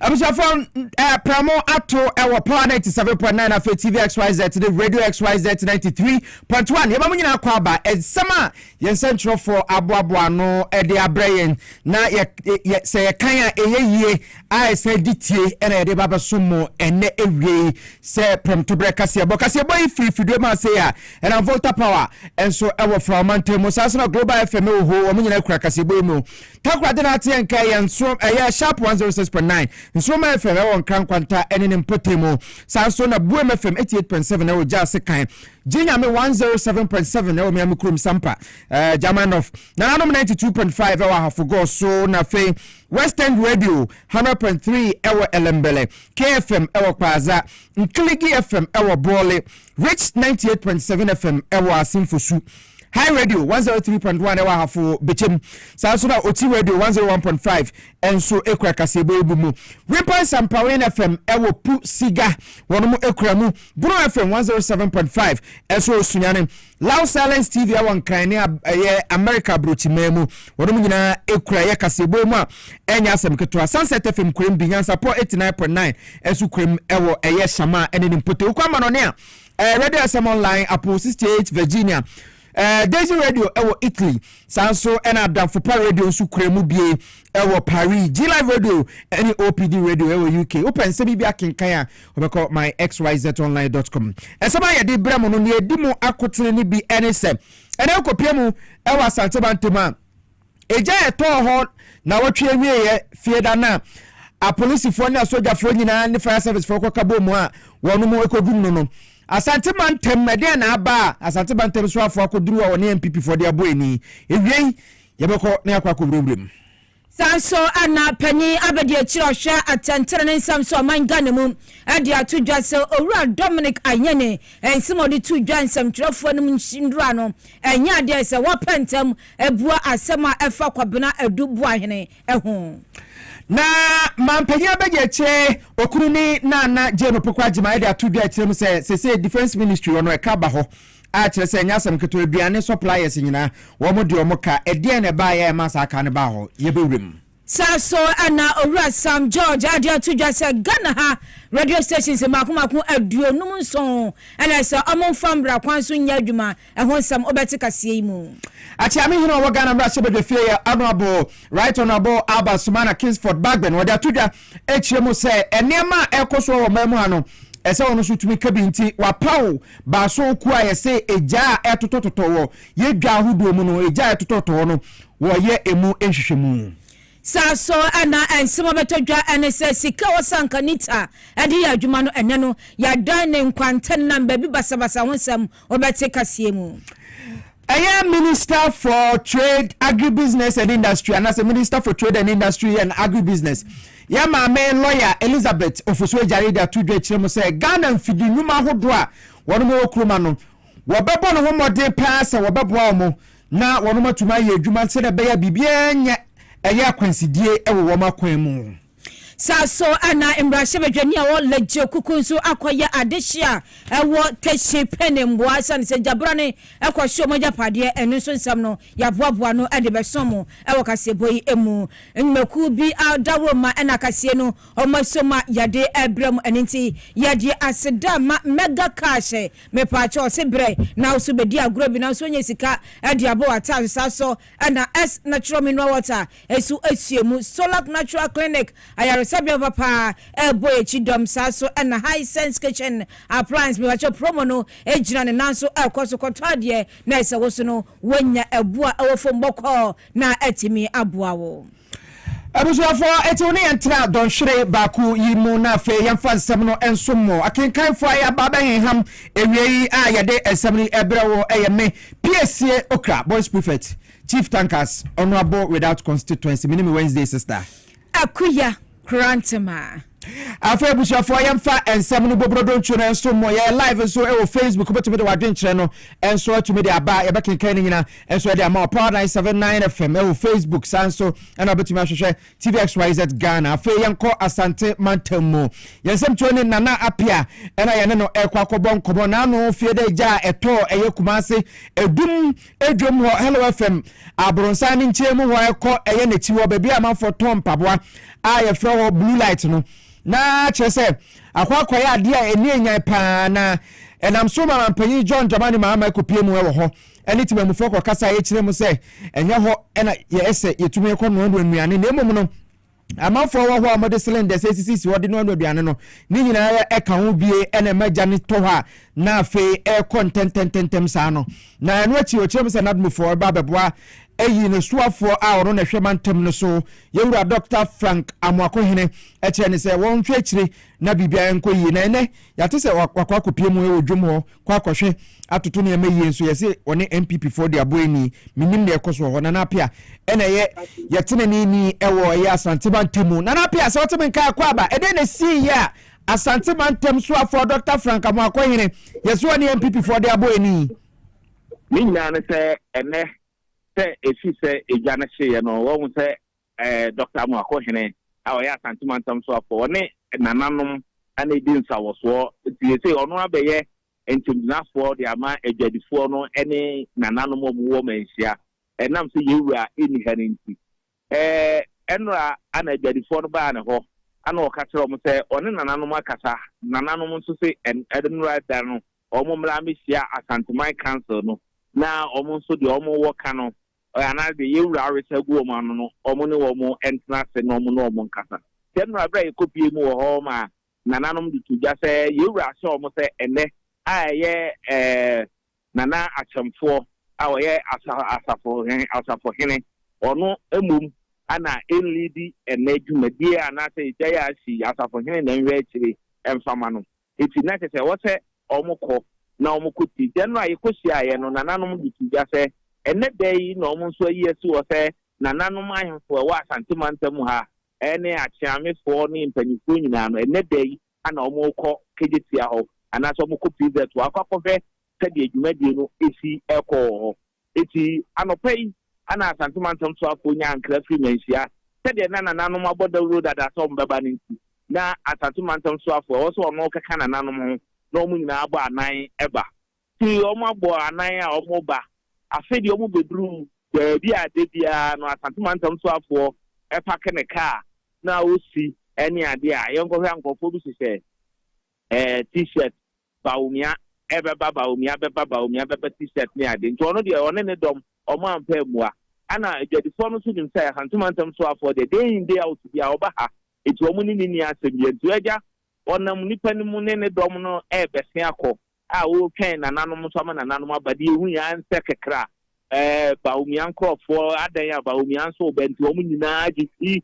abusuafo eh, pramo ato eh, wɔ power ninety seven point nine afei tv xyz ne radio xyz ninety three point one yɛma mo nyinaa kɔ aba nsɛm a yɛn nsɛntwerɛfoɔ aboaboa no eh, de abrɛ yɛn na sɛ yɛkan a ɛyɛ yie a ɛsan di tie na yɛde ba abɛsom mo ɛnnɛ awiei sɛ prɛmtoberɛ kaseɛbɔ kaseɛbɔ yi firi fidue ma ase a ɛnam volta power nso ɛwɔ fra ɔmantam mu saa nso na global fm wɔ hɔ wɔn nyinaa kura kaseɛbɔ yi mu takora de no ateɛ nka yɛn nso ɛyɛ sharp 106.9 nsoroma fm ɛwɔ nkra nkwanta ɛne ne mpɔtam mu saa nso na buem fm 88.7 ɛwɔ gya ase kan gye nyame 107.7 ɛwɔ miami kurom sampa uh, german of nananom 92.5 ɛwɔ ahafo gɔɔ so na afei West End Radio, 100.3 wɔ Ellembelle, KFM wɔ Kpaadza, Nkelegi FM wɔ Bole, Rich 98.7 FM wɔ Asenfosu, High Radio 103.1 wɔ Ahafo Bekyem, saa nso na Oti Radio 101.5 nso kura kaseɛbɔ yi bu mu. Wimpan Sampawen FM wɔ Pu Siga, wɔn kura mu. Bono FM 107.5 nso wɔ Sunyani. Loud Silence TV a wɔ Nkran ne ɛyɛ America Abrokyiman mu. Wɔnom nyinaa ekura yɛ kaseɛbɔ mu a ɛnyɛ asɛm ketewa. Sunset FM kurem bi, Nyansapɔ 89.9 nso kurem ɛwɔ ɛyɛ Shama ɛne ne mpɔtam. Kɔ amanɔne a, ɛɛ Radio SM Online, Apple 68 Virginia, ɛɛ Daisy Radio ɛwɔ Italy, saa nso ɛna Adamfopa Radio nso kura mu bie ɛwɔ Paris, G-Live Radio ɛne OPD Radio ɛwɔ UK. Wopɛ nsɛm yi bi akenkan a, Wobɛkɔ myxyzonline.com. Ɛsɛm a yɛde brɛ mo no, nea ɛdi mu akotene no bi ne sɛ, ɛnɛ wokɔpia mu wɔ Asante Mantam a, egya a ɛtɔɔ hɔ na wɔtwe awieeɛ fie da no a apolisifoɔ ne asogyafoɔ nyinaa ne fire servicefoɔ kɔka bɔ mu a wɔn mu kɔdum no no Asante Mantam ɛdeɛ na aba a Asante Mantam soafoɔ akɔduru a wɔne MPPfoɔ de abɔ ani ewiei yɛbɛkɔ na yɛakɔ akɔwurawura mu. Saa nso na panyin abadiakyiri a ɔhwɛ atɛntrenee nsɛm so ɔman Ghana mu de ato dwa sɛ Owura Dominic Ayine nsɛm a ɔde too dwa nsɛmtwerɛfoɔ no nnura no nyɛ adeɛ a ɛsɛ sɛ wɔpɛ ntɛm bua asɛm a ɛfa Kwabena Adu Boahene ho. Na manpanyin abadiakyire Okunini Nana Jane Opoku Agyemang de ato dwa akyire mu sɛ seesei Defence Ministry wɔ no ɛka aba hɔ a kyerɛ sɛ ɛnyɛ asɛm ketewa, aduane suppliers nyinaa, wɔn de wɔn ka. Ɛdeɛn na ɛbaeɛ a ɛmaa saa ka no baa hɔ? Yɛbɛwura mu. Saa nso na Owura Sam George ade ato dwa sɛ Ghana ha radio stations mmaako mmaako aduonum nson na ɛsɛ wɔn mfa mmara kwan so nyɛ adwuma, ɛho nsɛm wobɛte kaseɛ yi mu. Akyeame Hene a ɔwɔ Ghana Mmarahyɛbadwafie yɛ Honourable Right Honourable Albert Sumana Kingsford Bagbin, ɔde ato dwa akyerɛ mu sɛ nneɛma a ɛrekɔ so wɔ ɔman mu ha no, ɛsɛ ɔno nso tumi ka bi nti wapaw baason kuo a yɛse egya a ɛtotɔtotɔ wɔ yɛ dwa ahodoɔ mu no, egya a ɛtotɔtɔ hɔ no wɔyɛ emu nhwehwɛmu. Saa so na nsɛm a ɛbɛtɔ dwa ne sɛ sika a wɔsan ka Nita de yɛ adwuma no ɛnnɛ no yɛadan ne nkwantanan baabi basabasa ho nsɛm wɔbɛte kaseɛ mu. Ɛyɛ Minister for Trade, Agribusiness and Industry anaasɛ Minister for Trade and Industry and Agribusiness yɛ maame lɔya Elizabeth Ofosu-Adjare de ato dwa akyerɛ mu sɛ Ghana mfidi nnwuma ahodoɔ a wɔn wɔ Nkrumah no wɔbɛbɔ ne ho mmɔden paa sɛ wɔbɛboa wɔn na wɔn atumi ayɛ adwuma sɛdeɛ ɛbɛyɛ a biribiara nyɛ ɛyɛ akwansidie wɔ wɔn akwan mu. Saa so na mmarahyɛbadwani a ɔwɔ Legio kuku nso akɔyɛ adehye a ɛwɔ Teshie Pene mmoa ɛsiane sɛ gyabrane kɔhye wɔn agyapadeɛ, ɛno nso nsɛm no yɛaboaboa ano de bɛso mo wɔ kaseɛbɔ yi mu. Nnwumakuo bi a dawuro ma ɛna akaseɛ no wɔn aso ma yɛde rebrɛ mo, ɛno nti yɛde aseda ma Mega Cash, mepaakyɛw ɔse brɛ na wo so bɛdi agorɔ bi nanso wonya sika de abɔ w'ataaso, saa so na S-Natural Mineral Water Ɛso ahyia mu. Solak Natural Clinic ayaresabea papa a ɛbɔ yɛn akyi dɔm saa so na High Sense Kitchen Appliance mepakyɛw promo no gyina ne nan so kɔ so kɔtɔ adeɛ na ɛsɛ wo so no woanya ɛbo a ɛwɔ fam bɔkɔɔ na atumi aboa wo. Abusuafoɔ, enti wo ne yɛn ntra dɔnhwere baako yi mu na afei yɛmfa nsɛm no nsom mo. Akenkanfoɔ a yɛaba abɛhenham awiei a yɛde nsɛm yi rebrɛ wo yɛ me, Piesie Okra, Boys Prefect. Chief Tankers Honourable Without Constituency Me ne me Wednesday sister. Akuya Kurantema. Afei abusuafoɔ yɛmfa nsɛm no bobrodontuo no nso mmɔ yɛyɛ live nso wɔ facebook wobɛtumi de w'adwenkyerɛ no nso atumi de aba yɛbɛkenkan no nyina nso ɛde ama wɔ power 979 fm wɔ facebook saa nso ɛna wobɛtumi ahwehwɛ tvxyz ghana afei yɛnkɔ asante mantam mu yɛn nsɛmtuo ne nana apia ɛna yɛne no ɛkɔ akɔbɔ nkɔmmɔ naano fie dɛ gya a ɛtɔɔ ɛyɛ kuma ase ɛdum Dwom hɔ Hello FM Abronsan ne nkyɛn mu hɔ ɛkɔ ɛyɛ n'akyi hɔ baabi a amanfoɔ tɔn mpaboa a yɛfrɛ hɔ blue light no na kyerɛ sɛ akɔ akɔyɛ adeɛ a ɛni enyan paa na ɛnam so ma mampanyin John Dramani Mahama ɛkɔpie mu ɛwɔ hɔ ɛne timamufoɔ kɔkasa yɛkyerɛ mu sɛ ɛnyɛ hɔ ɛna yɛsɛ yɛtumi ɛkɔ noanoa nnuane na mmom no Amanfoɔ wɔ hɔ a wɔde cylinders asisisi hɔ de noanoa aduane no. Ne nyinaa ara ɛka ho bie na ɛma gya no tɔ hɔ a na afei ɛrekɔ ntɛntɛntɛntɛm saa no. Na ɛno akyi wɔkyerɛ mu sɛ Nadmofoɔ reba abɛboa ayi no soafoɔ a ɔno na ɛhwɛ mantam no so, yɛn wura Dɔkta Frank Amoakohene kyerɛ no sɛ wɔnhwɛ akyire na biribiara nkɔ yie. Na ɛnnɛ yɛate sɛ wakɔ akɔpie mu wɔ dwom hɔ. kɔ akɔhwɛ atoto nneɛma yie nso yɛse ɔne npp foɔ de aboa ni menim na ɛkɔ so wɔ hɔ nana apia ɛna ɛyɛ yɛtenene ni ɛwɔ ɛyɛ asante mantamu nana apia sɛ woteme nka akɔ aba ɛdɛn na ɛsii yɛ a asante mantam so afoɔ dr frank amoakɔhene yɛse ɔne npp foɔ de aboa ni ne nyinaa ne sɛ ɛnɛ sɛ ɛsi sɛ ɛdwa no hyeeɛ no wɔhu sɛ Dɔkta Amoako Hene a ɔyɛ Asante Mantam Soafoɔ, ɔne nananom na ɛredi nsawɔsoɔ, nti seesei ɔno abɛyɛ ntemgyinafoɔ de ama adwadifoɔ no ne nananom a wɔwɔ manhyia, ɛnam sɛ yɛn wura nni ha no nti. Ɛnora na adwadifoɔ no baa ne hɔ na ɔka kyerɛɛ wɔn sɛ ɔne nananom akasa, nananom nso se ɛnora da no wɔn mmra mmɛhyia Asanteman Council no na wɔn nso deɛ wɔn wɔ ka no anaadɛ yɛn Wura awe sa agu wɔn ano no, wɔn ne wɔn ntena ase na wɔn ne wɔn nkasa. Saa mmara berɛ a yɛkɔpuee mu wɔ hɔ ma nananom de to dwa sɛ yɛn Wura ahyɛ wɔn sɛ ɛnnɛ a ɛyɛ Nana Akyɛmfoɔ a ɔyɛ Asafo Hene, ɔno mmom na ɛnliidi ɛnnɛ dwumadie anaasɛ ɛgyae a asi Asafo Hene na ɛnhwɛ akyire mfa ma no. Enti na ɛsɛ sɛ ɛwɔ sɛ wɔkɔ na wɔkɔ ti. Da no a yɛkɔhyiaeɛ no, nananom de too dwa sɛ, Ɛnnɛ da yi na wɔn nso ayi asi hɔ sɛ nananom ahemfo a ɛwɔ Asante mantam ha ne Akyeamefoɔ ne mpanimfoɔ nyinaa no, ɛnnɛ da yi na wɔrekɔ Kejetia hɔ anaasɛ wɔrekɔ PZ hɔ akɔ akɔhwɛ sɛdeɛ dwumadie no si rekɔ wɔ hɔ. Enti, anɔpa yi na Asante Mantam Soafoɔ nyaa nkra firi Manhyia sɛdeɛ na nananom abɔ dawuro dada sɛ wɔbɛba no nti, na Asante Mantam Soafoɔ a ɛwɔ sɛ ɔno keka nananom ho na wɔn nyinaa abɔ anan ba. Enti, wɔabɔ anan a wɔreba. Afei deɛ wɔbɛduru baabi a da biara no Asante Mantam Soafoɔ pake ne kaa na ɔsi ne adeɛ a, yɛnkɔhwɛ a nkurɔfoɔ bi hyehyɛ T-shirt. Bawumia ɛbɛba Bawumia bɛba Bawumia bɛba t-shirt ne ade nti ɔno deɛ ɔne ne dɔm ɔmo ampɛ ammua ɛna adwadifoɔ no nso nim sɛ Hantu Mantam soafoɔ deɛ day in day out biaa ɔba ha nti ɔmo ne no nni asɛm biaa nti agya ɔnam nnipa no mu ne ne dɔm no ɛɛbɛse akɔ a ɔretwɛn nananom nso ama nananom aba deɛ ehu yɛn ara nsɛ kɛkra ɛɛ Bawumia nkorɔfoɔ adɛn a Bawumia nso reba nti ɔmo nyinaa gyesi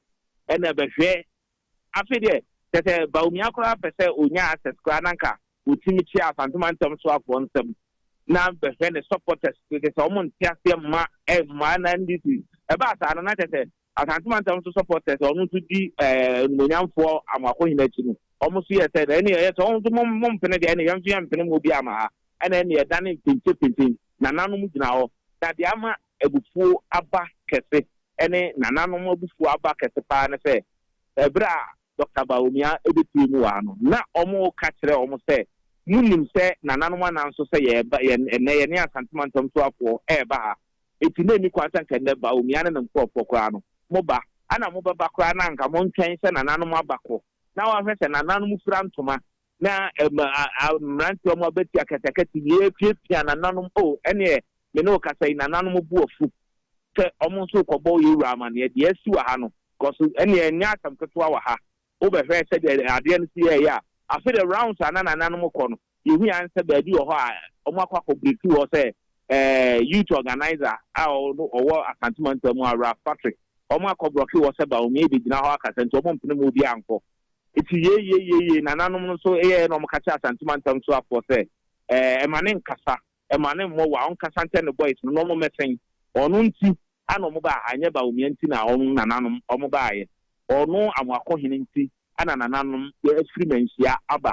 ɛna bɛhwɛ Afei deɛ kyerɛ sɛ Bawumia koraa pɛ sɛ ɔnya access koraa na anka ɔtim kyea Asante Mantam soafoɔ nsam na bɛhwɛ ne supporters so kyerɛ sɛ wɔn nte aseɛ mma mmaa na NDC ɛbaa saa no na kyerɛ sɛ Asante Mantam so supporters wɔn nso di animonyamfoɔ Amoakohene akyi no wɔn nso yɛ sɛ na ɛne ɛyɛ sɛ wɔn nso mo mpene deɛ ɛne yɛn nso yɛn mpene mu obi ama ha ɛna ɛne ɛdane mpenkyepente nananom gyina hɔ na deɛ ama abufuo aba kɛse ne nananom abufuo aba kɛse paa ne sɛ, ɛberɛ a Dɔkta Bawumia bɛpue mu wɔ ha no, na wɔreka kyerɛ wɔn sɛ, monim sɛ nananom anan nso sɛ yɛreba, yɛn, ɛnnɛ yɛne Asante Mantam Soafoɔ ɛreba ha, enti na ɛnni kwan sɛ anka ɛnnɛ Bawumia ne ne nkorɔfoɔ koraa no, moba. Ana mobɛba koraa na anka montwɛn sɛ nananom abakɔ na wɔahwɛ sɛ nananom fira ntoma na mmeranteɛ ɔmo abɛti akatakati yɛ apiapia nananom o ɛneɛ me ne wo kasa yi nananom bo afu sɛ ɔmo nso rekɔbɔ yɛ wura amaneɛ deɛ asi wɔ ha no cos ɛneɛ ɛnyɛ asɛm ketewa wɔ ha wo bɛhwɛ sɛdeɛ adeɛ no si yɛɛyɛ a afei deɛ rounds a na nananom kɔ no yɛhu ara sɛ baabi wɔ hɔ a ɔmo akɔ akɔ breaku wɔ sɛ eh, youth organizer a ɔwɔ Asante Mantam a Ralph Patrick ɔmo akɔ brɔke wɔ sɛ Baomia bɛgyina hɔ akasa nti ɔmo mpene mu obi ankɔ Eti yeieieiei nananom no nso yɛɛ na wɔka kyerɛ Asante mantam so afoɔ sɛ, Ɛɛ, ma no nkasa, ma no mmɔ wa, ɔnkasa nkyɛ ne boys no na wɔmmɛsɛn. Ɔno nti ana wɔbaa ha, ɛnyɛ Bawumia nti na wɔn nananom wɔbaeɛ. Ɔno Amoako hene nti ana nananom afiri Manhyia aba.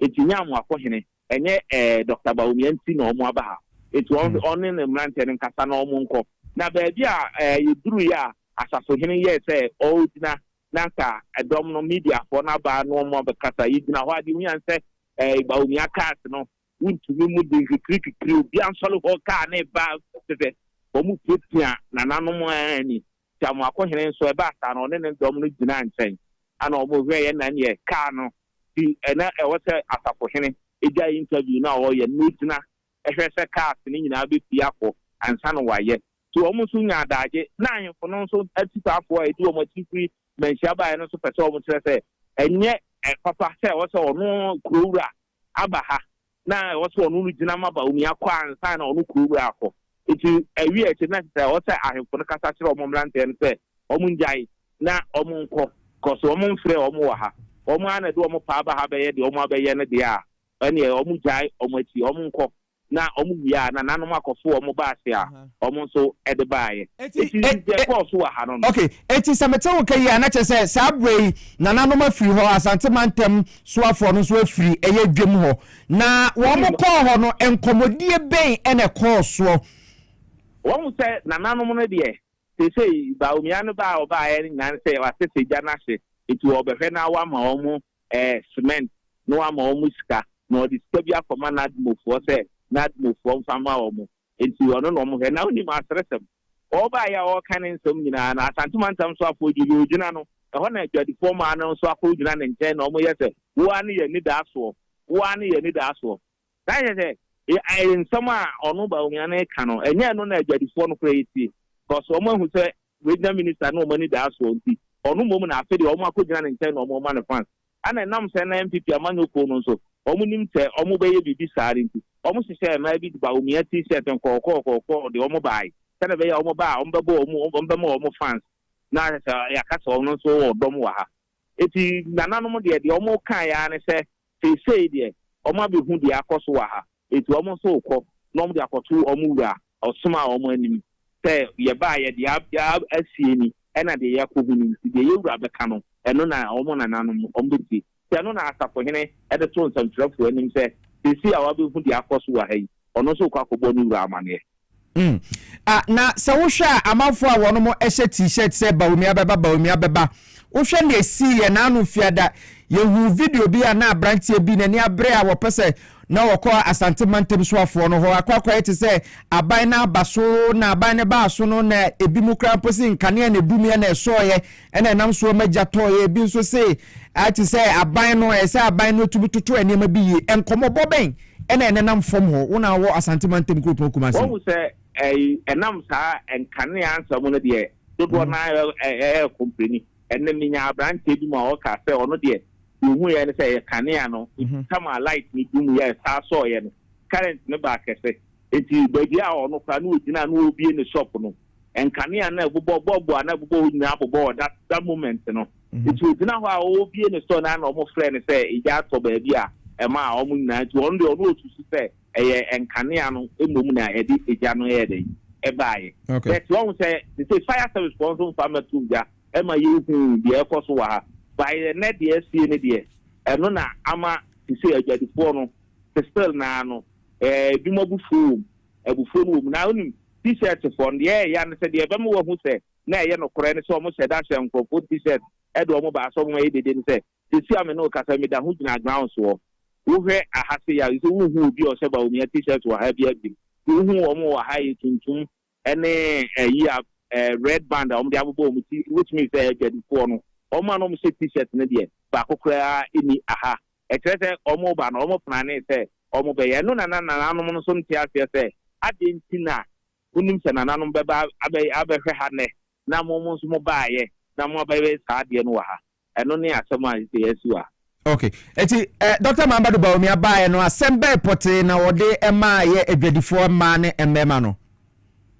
Eti ɛnyɛ Amoako hene, ɛnyɛ ɛɛ Doctor Bawumia nti na wɔaba ha. Eti ɔn, ɔne ne mmeranteɛ no nkasa na wɔnkɔ. Na baabi a ɛɛ yɛduruiɛ a Asaso hene yɛɛ sɛ ɔregyina na anka ɛdɔm no, Mediafoɔ no aba na wɔn abɛkasa. Yɛgyina hɔ a, deɛ wohia ne sɛ, ɛɛ, Baomia cars no, wontumi mu den kikirikikiri. Obiara nsɔre hɔ, kaa no reba te sɛ wɔrepiapia nananom ara ni. Kyamoakohene nso, ɛbaa saa no, ɔne ne dɔm no gyinaa nkyɛn, ɛnna wɔhwɛeɛ na ɛnneɛ kaa no ti. Ɛnna ɛwɔ sɛ asafohene gyae interview no a ɔreyɛ no na ɔgyina hwɛ sɛ cars no nyinaa bɛpue akɔ ansa na wayɛ. So wɔn nso nya adaagye? Ná ahemfo no nso atisaafoɔ a ɛdi wɔn akyi firi mmanhyia baeɛ no nso pɛ sɛ wɔkyerɛ sɛ ɛnyɛ papa sɛ ɛwɔ sɛ ɔno kurowura aba ha. Ná ɛwɔ sɛ ɔno regyina ma Baoni akɔ ansa na ɔno kurowura akɔ. Enti awiee akyiri no, na ɛsɛ sɛ ɛwɔ sɛ ahemfo no kasa kyerɛ wɔn mmeranteɛ no sɛ wɔnnyae na wɔnkɔ because wɔmfrɛɛ wɔn wɔ ha. Wɔn ara na ɛde wɔn paa ba ha bɛyɛ deɛ wɔabɛyɛ no deɛ a, ɛnneɛ wɔgyae wɔn akyi, wɔnkɔ. na wɔwie a na nanom akɔfo wɔn baase a wɔn nso de baeɛ. Enti deɛ ɛkɔɔ so wɔ ha no no. Okay, enti sɛ mete wo nka yie a, na kyerɛ sɛ saa berɛ yi nananom afiri hɔ, Asante mantam soafoɔ no nso afiri ɛyɛ dwam hɔ. Na wɔn kɔɔ hɔ no, nkɔmmɔdie bɛn na ɛkɔɔ soɔ? Wahu sɛ nananom no deɛ, seesei Bawumia no ba a ɔbaeɛ no nyinaa ne sɛ wasesa gya no ahye, enti wɔrebɛhwɛ na wɔama wɔn ɛɛ cement na wama wɔn sika na ɔde sika bi akɔma Nadmofoɔ sɛ Nadmofoɔ mfa ma wɔn nti ɔno na wɔhwɛ na wonim aseresɛm ɔɔba yi a ɔɔka ne nsɛm nyinaa no Asante mantam nso afoɔ gye deɛ ɔgyina no ɛhɔ na adwadifoɔ mmaa no nso akɔ gyina ne nkyɛn na wɔyɛ sɛ wo ara ne yɛn anidaasoɔ wo ara ne yɛn anidaasoɔ Saa kyerɛ sɛ, ɛɛ, nsɛm a ɔno Bawumia no reka no, ɛnyɛ ɛno na adwadifoɔ no koraa retie. Because wɔn ahu sɛ Regional Minister no wɔn ani daa soɔ nti, ɔno mmom na afe deɛ wɔn akɔgyina ne nkyɛn na wɔn rema no fans. Ɛna ɛnam sɛ na NPP amanyɔ kuo no nso, wɔn nim sɛ wɔn bɛyɛ biribi saa no nti, wɔn hyehyɛɛ mmaa bi de Bawumia T-shirt nkɔɔkɔɔkɔɔkɔɔ de wɔn baae, sɛdeɛ ɛbɛyɛ a wɔn ba a, wɔn bɛbɔ wɔn, wɔn bɛma wɔn fans. Na kyerɛ sɛ, yɛaka sɛ wɔn nso wɔ dɔm wɔ ha. Enti, nananom deɛ, deɛ wɔn kaeɛ ara ne sɛ, Seesei deɛ, wɔabɛhu deɛ akɔ so wɔ ha, enti wɔn nso rekɔ na wɔde akɔto wɔn wura a ɔsomaa wɔn anim sɛ, Yɛbaeɛ, deɛ yɛaba asie ni, ɛna deɛ yɛakɔhu ni, enti deɛ yɛn wura bɛka no, ɛno na wɔn nananom bɛtie. Enti ɛno na asafohene de too nsɛmtwerɛfoɔ anim sɛ, Seesei a wɔabɛhu deɛ akɔ so wɔ ha yi, ɔno nso rekɔ akɔbɔ ne wura amanneɛ. Mm. Ah, na sɛ wohwɛ a amanfoɔ a wɔnom hyɛ t-shirt sɛ Bawumia bɛba, Bawumia bɛba. Wohwɛ na esii yɛn ano fiada. Yɛhuu video bi a na aberanteɛ bi n'ani abere a wɔpɛ sɛ na wɔkɔ Asante mantam soafoɔ no hɔ akɔ akɔyɛ te sɛ aban no aba so na aban no baa so no na ebi mu koraa mpo se nkanea na edumiɛ na ɛsɔeɛ Ɛnna ɛnam soɔ ma gya tɔeɛ. Ebi nso se, te sɛ aban no, ɛyɛ sɛ aban no tumi toto nneɛma bi yie. Nkɔmmɔbɔ bɛn na ɛnenam fam hɔ, wo na wowɔ Asante mantam kuropɔn Kumasi mu? Woahu sɛ ɛnam saa nkanea nsɛm mu no deɛ, dodoɔ no ara yɛ kɔmpleni. Ɛnnɛ menyaa aberanteɛ bi mu a ɔka sɛ ɔno deɛ, deɛ ɔhuiɛ ne sɛ ɛyɛ kanea no, tam a light no dum yɛ saa sɔeɛ no, current no baa kɛse. Enti baabi a ɔno koraa na ɔgyina a na ɔrebue ne shop no, nkanea na ɛbobɔ bɔɔbo a na ɛbobɔ hɔ nyinaa bobɔ hɔ that that moment no nti mhm. ogyina hɔ a ɔrebie ne store na na wɔn frɛ no sɛ egya atɔ baabi a ɛma a wɔn nyinaa nti wɔn deɛ ɔno osusu sɛ ɛyɛ nkanea no mmom na ɛde egya no yɛ dɛ ɛbaayɛ bɛt wɔn sɛ te sɛ fire service wɔn nso nfa ma tum gya ɛma yɛhu deɛ ɛkɔ so wɔ ha baayɛ nɛ deɛ asie ne deɛ ɛno na ama te sɛ adwadifoɔ no te still naa no ɛɛ ebinom abufuo wɔm abufuo no wɔm na onim T-shirtfo no, deɛ ɛyɛ ya ne sɛ deɛ ɛbɛma wɔahu sɛ na ɛyɛ nokorɛ ne sɛ wɔhyɛ da hyɛ nkurɔfoɔ T-shirt de wɔn ba asɔre mu ma ɛyɛ dede ne sɛ, Seesei a me ne wo kasa yi, meda ho gyina ground soɔ. Wohwɛ aha sei a, nso wonhu obi a ɔhyɛ Bawumia T-shirt wɔ ha biara bio. Deɛ wohu wɔn wɔ ha yɛ tuntum ne ayi a red band a wɔde abobɔ wɔn ti, which means sɛ ɛyɛ adwadifoɔ no. Wɔn a na wɔhyɛ T-shirt no deɛ, baako koraa nni aha. ɛkyerɛ sɛ wɔreba no, wɔplanee sɛ wɔbɛyɛ. Ɛno na na nananom no nso nte aseɛ sɛ, Adɛn nti na monim sɛ nananom bɛba abɛhwɛ ha nnɛ, na mo nso mobaeɛ, na moabɛyɛ saa adeɛ no wɔ ha? Ɛno ne asɛm a ɛsɛ yɛasi wɔ ha. Ok, enti Dɔkta Mahamadou Bawumia baeɛ no, asɛm bɛn pɔtee na wɔde maa yɛ adwadifoɔ mmaa ne mmarima no?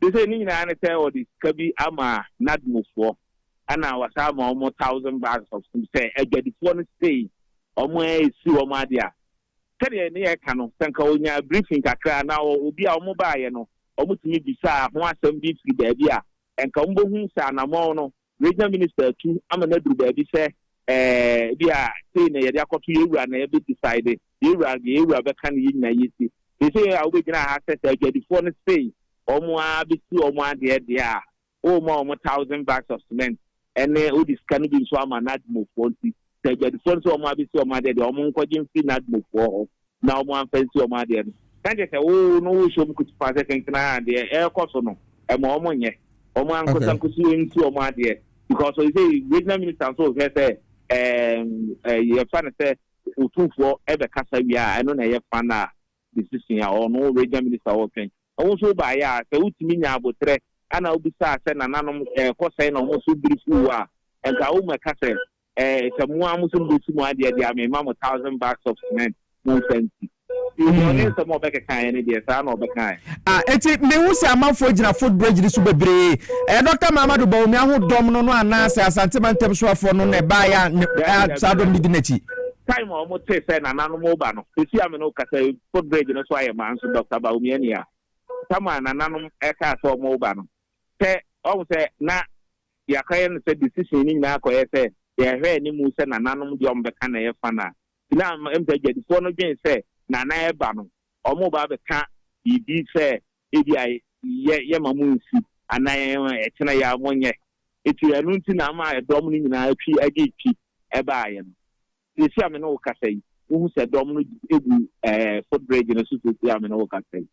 Seesei ne nyinaa ne sɛ wɔde sika bi ama NADMO foɔ, Ɛna wɔsan ma wɔn thousand bags of food sɛ adwadifoɔ no sei wɔn a ɛsi wɔn adeɛ a sɛdeɛ ne yɛka no sɛ nka wɔnya briefing kakra na obi a wɔn baeɛ no wɔn tumi bisaa ho asɛm bi firi baabi a nka wɔn bɛhu sɛ anamɔn no regional minister atu ama no aduru baabi sɛ ɛɛ bi a sei na yɛde akɔto yɛwura na yɛbɛ decide yɛwura yɛwura bɛka ne yɛ nyina yɛsi sɛ sɛ a wobɛgyina ha sɛ sɛ adwadifoɔ no sei wɔn a bɛsi wɔn adeɛ deɛ a Woma wɔn thousand bags of cement ne wode sika no bi nso ama Nadmofoɔ nti, sɛ adwadifoɔ no sɛ wɔn abɛsi wɔn adeɛ deɛ, wɔn nkɔgye mfiri Nadmofoɔ hɔ na wɔn amfa nsi wɔn adeɛ no. Na kyerɛ sɛ, wo no wohyɛ wɔn kutupa sɛ kenkenaa deɛ ɛrekɔ so no, mma wɔn nyɛ. Wɔn ankasa nkɔsi wɔn nsi wɔn adeɛ because seisei regional minister nso rehwɛ sɛ ɛɛ yɛfa no sɛ Otumfoɔ bɛkasa wie a, ɛno na ɛyɛ fun a decision a ɔno wo region minister ɔɔtwɛn na wo nso wo baayɛ a sɛ wo tumi nyaa aboterɛ ɛna wo bisaa sɛ nananom ɛɛkɔ sɛn na ɔmo nso biri firi wo a nka wo mɛka sɛ ɛɛ sɛ mo ara mo nso mo bɛsi mo adeɛ deɛ a me ma mo thousand bags of cement mo nsa nsi nti ɔne nsɛm a ɔbɛkɛkaeɛ no deɛ saa na ɔbɛkaeɛ. A ɛti mehu sɛ amanfoɔ gyina footbridge no so bebree ɛyɛ Doctor Mahamadou Bawumia ho dɔm no no anaa sɛ Asante mantam soafoɔ no na ɛbaeɛ a ne saa dɔm no di n'akyi. Time a wɔn tee sɛ nananom reba no, sisi a me ne wo kasa yi, foot bridge no so ayɛ ma nso Doctor Bawumia ni ha. Time a nananom kaa sɛ wɔn reba no, sɛ wɔn sɛ na yɛaka yɛn sɛ decision no nyinaa kɔ yɛ sɛ yɛ hwɛ anim sɛ nananom deɛ wɔn bɛka na yɛ fa na ti na ɛmu sɛ gyadifoɔ no dwen sɛ nana ɛba no wɔn reba abɛka biribi sɛ Ebia yɛ yɛ ma mo nsi anaa yɛ yɛ ma ɛkyena yɛ a mo nyɛ. Eti ɛno nti na ama ɛdɔm no nyinaa twi agye twi ɛbaa yɛ no. Seesei a me ne wo kasa yi, wohu sɛ dɔm no egu ɛɛ foot bridge no so seesei a me ne wo kasa yi.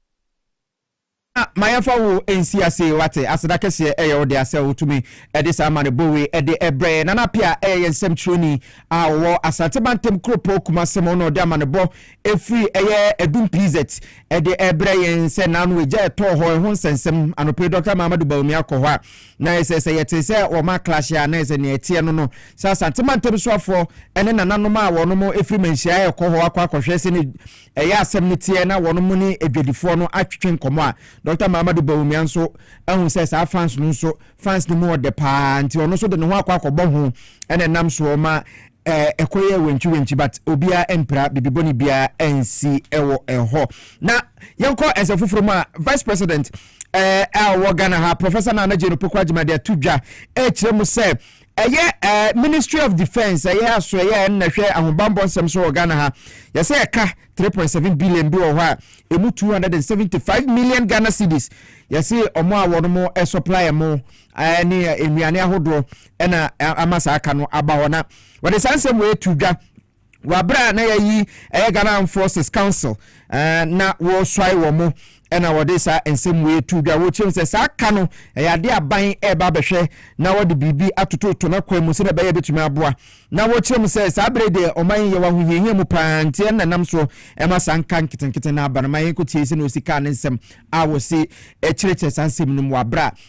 Na ma yɛmfa wo nsi ase wate. Aseda kɛseɛ ɛyɛ wo dea sɛ wotumi ɛde saa amanebɔ wei ɛde ɛbrɛ yɛn. Nana Appiah ɛyɛ yɛn nsɛmtwerɛni a ɔwɔ Asante Mantam kuropɔn Kumase mu na ɔde amanebɔ Ɛfiri ɛyɛ Adum PZ de rebrɛ yɛn sɛ naano egya ɛtɔɔ hɔ ɛho nsɛnsɛm. Anɔpa yi Dɔkta Mahamadu Bawumia kɔ hɔ a na ayɛ sɛ sɛ yɛte sɛ wɔn aklahyɛ a na ayɛ sɛ nea ɛteɛ no no sɛ Asante Mantam Soafoɔ ne nananom a wɔnom firi manhyia rekɔ hɔ akɔ akɔhwɛ sɛnea ɛyɛ asɛm no teɛ na wɔnom ne adwadifoɔ no atwetwe nkɔmmɔ a Dɔkta Mahamadu Bawumia nso ahu sɛ saa fans no nso fans no mu ɔdɛ paa nti ɔno nso de ne ho akɔ akɔbɔ ho na ɛnam soɔ ma Eh ɛkɔ yɛ wentwi wentwi but obiara ɛmpira bibi bɔne biara ɛnsi ɛwɔ ɛhɔ na yɛnkɔ ɛnsɛ foforɔ mu a vice president eh ɛwɔ Ghana ha professor Nana Adjei no poko agyima de ato dwa ɛkyerɛ mu sɛ ɛyɛ eh ministry of defence ɛyɛ aso ɛyɛ ɛnna hwɛ ahobanbɔ nsɛm so wɔ Ghana ha yɛsɛ ɛka 3.7 billion bi wɔ hɔ a ɛmu 275 million Ghana cedis yɛse ɔmo a wɔn mo ɛsupply mo ɛɛ ne nnuane ahodoɔ ɛna ama saa ka no aba hɔ na wɔde saa nsɛm wɔ etu dwa wɔ abere a na yɛyi ɛyɛ Ghana Armed Forces Council ɛɛ na wɔsɔe wɔn mo ɛna wɔde saa nsɛm wɔ etu dwa wɔkyerɛ mu sɛ saa ka no ɛyɛ adeɛ aban ɛɛba abɛhwɛ na wɔde biribi atototo na kwan mu sɛ na ɛbɛyɛ betumi aboa na wɔkyerɛ mu sɛ saa abere deɛ ɔman yi yɛ wɔ ahohiahia mu paa nti ɛna nam soɔ ɛma saa nka nketenkete na aba no ma yɛn ko tie sɛ na osi kaa ne nsɛm a wɔsi ɛkyerɛkyerɛ saa nsɛm no mu wɔ abere a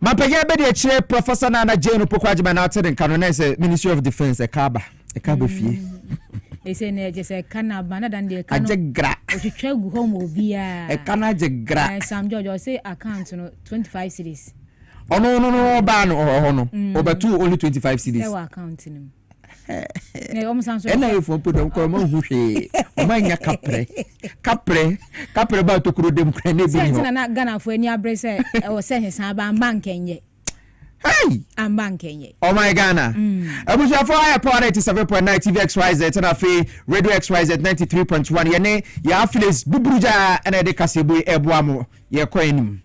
Mapagya bɛ de akyire Professor Nana Jane Opoku Agyeman na ate ne nka no na ɛsɛ Ministry of Defence ɛka aba ɛka aba fie. ɛsɛ mm. na ɛkyɛ sɛ ɛka no aba na dan deɛ ɛka no agye gra ɔtwitwa gu hɔ ma obiara ɛka no agye gra na Sam George ɔse account no 25 series ɔno no no ɔbaa no ɔhɔ no ɔbɛtoo mm. only 25 series ɛwɔ account no mu ɛna yɛfoɔ mpo dɔm korɔ mahu hwee ɔma nya kaprɛ kaprɛ kaprɛ ba tokuro dam kora ne ɛbi nɔ na ghanafoɔ ani abere sɛ ɛwɔ sɛ ne saa ba mma nkɛnyɛ Hey! Amba nkenye. Oh my Ghana. Mm. Abusuafo ayɛ power 97.9 TV XYZ ɛna afei Radio XYZ 93.1 yɛne yɛ affiliates buburu gyaa ɛna yɛde kaseɛbui ɛboa mo Yɛkɔ anim.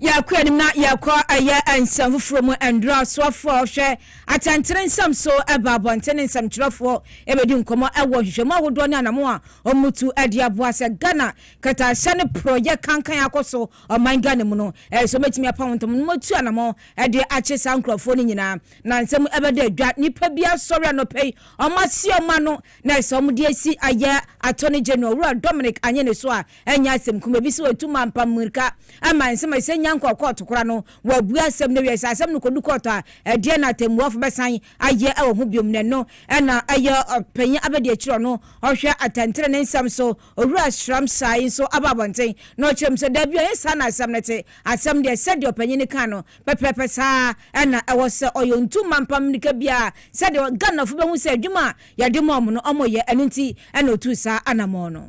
Yɛkɔ anim na yɛkɔ ɛyɛ nsɛm foforɔ mu nduro asoafoɔ hwɛ atɛntene nsɛm so ɛba abɔnten ne nsɛmtwerɛfoɔ ɛbɛdi nkɔmmɔ ɛwɔ nhwehwɛmu ahodoɔ ne anamo a wɔtu ɛde aboa sɛ Ghana kɛtɛahyɛ ne porɔyɛ kankan akɔ so ɔman Ghana mu no ɛyɛ sɛ wɔbɛtumi apa wɔn ntam na wɔatu anamo ɛde akye saa nkurɔfoɔ no nyinaa na nsɛm ɛbɛda adwa nipa bi asɔre anɔpɛ yi wɔn ase ɔma no na ɛsɛ wɔn de asi ayɛ attorney general wura Dominic Anyene so a Ɛnyɛ asɛm kuma bi sɛ wɔatu Mampam mmirika ama nsɛm a ɛsɛ sɛ Nyang kɔ kɔɔto kora no, wɔabue asɛm no awie. Sɛ asɛm no kɔdu kɔɔto a, ɛdeɛn na atɛmmuafo bɛsan ayɛ wɔ ho biom? Na ɛno na ɛyɛ Ɔpanyin Abedi Akyiri a ɔno ɔhwɛ atɛntenenee nsɛm so, Owura Sram Sai nso aba abɔnten na ɔkyerɛ mu sɛ, Dabi, ɛnyɛ saa na asɛm no te. Asɛm deɛ, sɛdeɛ ɔpanyin no kaa no pɛpɛɛpɛ saa ara na ɛwɔ sɛ ɔyɛ. Ɔntu Mampam mmirika biara sɛdeɛ Ghanafo bɛhu sɛ adwuma a yɛde ma wɔn no wɔyɛ, ɛno nti na ɔtuu saa anammɔn no.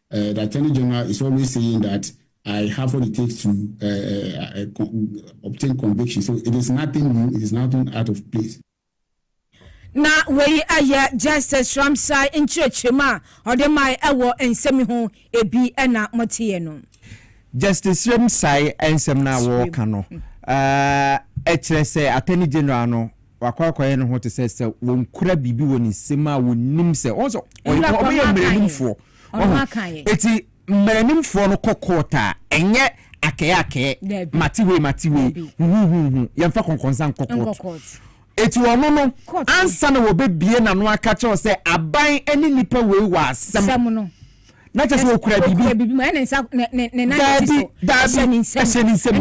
eh, the Attorney General is always saying that I have what it takes to uh, uh, uh, con obtain conviction. So it is nothing new, it is nothing out of place. na wei ɛyɛ justice ramsai nkyerɛkyerɛmu a ɔde mae ɛwɔ nsɛm ho ebi ɛna moteɛ no justice ramsai nsɛm no a wɔreka no ɛkyerɛ sɛ attorney general no wakɔakɔyɛ no ho te sɛ sɛ wɔkura biribi wɔ ne nsam a wɔnim sɛ wɔn sɛ wɔyɛ mmaranimfoɔ ɔho eti mmaranimfoɔ no kɔ court a ɛnyɛ akɛyɛakɛyɛ mate wei mate wei huhuhuhu yɛmfa kɔnkɔnsa nkɔ court eti ɔno no ansa na wɔbɛbie n'ano aka kyɛw sɛ aban ne nipa wei wɔ asɛm no na kyɛ sɛ ɔkura biribi daabi daabi ɛhyɛ ne nsam